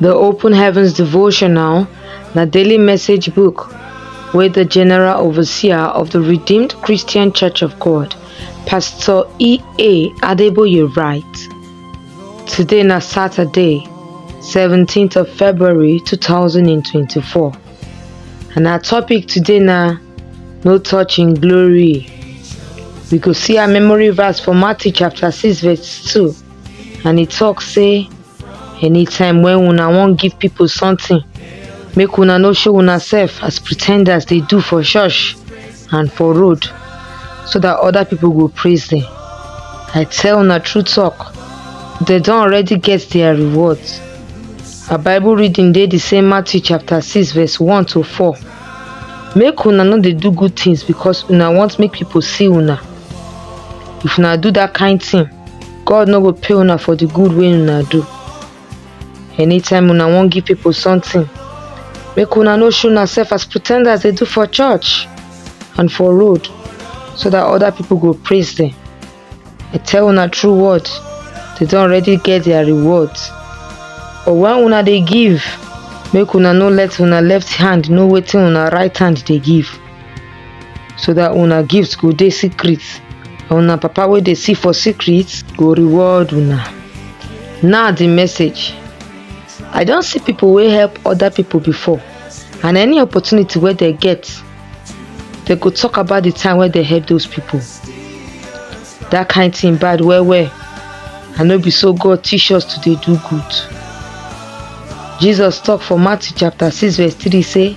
The Open Heavens Devotional na daily message book wey the General Overseer of the Redeemed Christian Church of God, Pastor E.A. Adeboye write. Today na Saturday, 17th of February 2024. And our topic today na No Touching Glory. We go see our memory verse for Matthew chapter 6 verse 2. and e tok say anytime wen una wan give pipo sometin make una no show unasef as pretenders dey do for church and for road so dat oda pipo go praise dem i tell una true tok dem don already get dia reward our bible reading dey di same matthew chapter six verse one to four make una no dey do good tins becos una want make pipo see una if una do dat kain tin god no go pay una for the good wey una do anytime una wan give people something make una no show una self as pretenders dey do for church and for road so that other people go praise them i tell una true word they don already get their reward but when una dey give make una no let una left hand know wetin una right hand dey give so that una gift go dey secret and una papa wey dey see for secret go reward una now the message i don see people wey help other people before and any opportunity wey dem get dem go talk about the time wey dem help those people that kind thing bad well well and no be so god teach us to dey do good jesus talk for matthew chapter six verse three say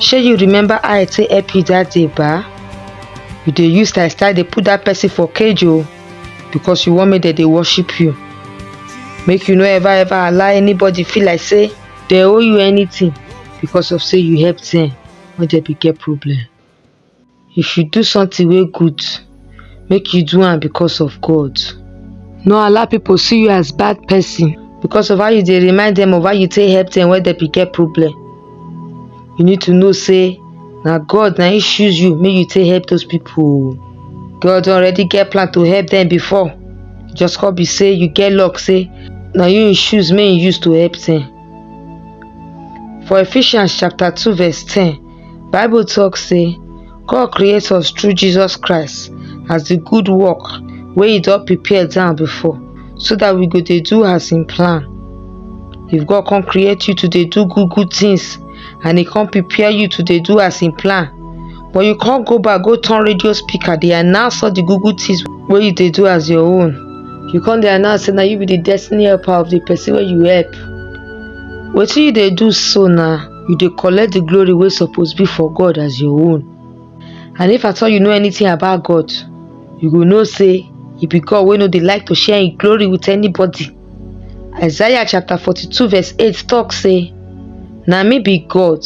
shey you remember how i take help you that day ba you dey use style style dey put that person for cage o because you wan make dem dey worship you make you no ever ever allow anybody feel like say dem owe you anything because of say you help them when dem be get problem. If you do something wey good, make you do am because of God. No allow people see you as bad person because of how you dey remind them of how you take help them when they be get problem. You need to know say na God na him choose you make you take help those people. o. God don already get plan to help them before. Just come be say you get luck say na you him choose make him use to help them. For Ephesians chapter 2 verse 10, Bible talk say God create us through Jesus Christ as the good work wey he don prepare down before so that we go dey do as him plan. If God come create you to dey do good good things and he come prepare you to dey do as him plan but you come go back go turn radio speaker dey announce all the good good things wey you dey do as your own. You come dey announce say na you be the destiny helper of the person wey you help. Wetin you dey do so na you dey collect the glory wey suppose be for God as your own. And if at all you know anything about God, you go know say e be God wey no dey like to share im glory with anybody. Isaiah chapter 42 verse 8 talk say, Na me be God,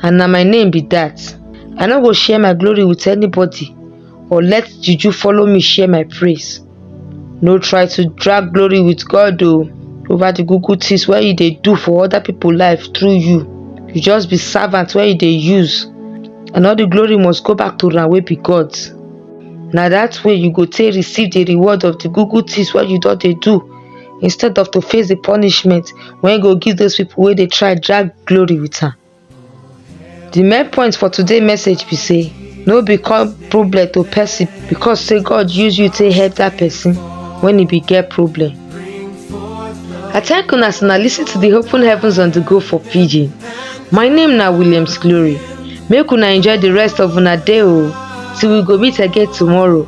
and na my name be that. I no go share my glory with anybody or let juju follow me share my praise. no try to drag glory with god o over the google things wey you dey do for other people life through you you just be servant wey you dey use and all the glory must go back to una wey be god na that way you go take receive the reward of the google things wey you don dey do instead of to face the punishment wey go give those people wey dey try drag glory with am The main point for today message be say no become problem to person because say God use you to help that person when he be get problem. I thank una as una listen to the Open Heavens on the Go for Pidgin. My name na Williams Glory. Make una enjoy the rest of una day o till we go meet again tomorrow.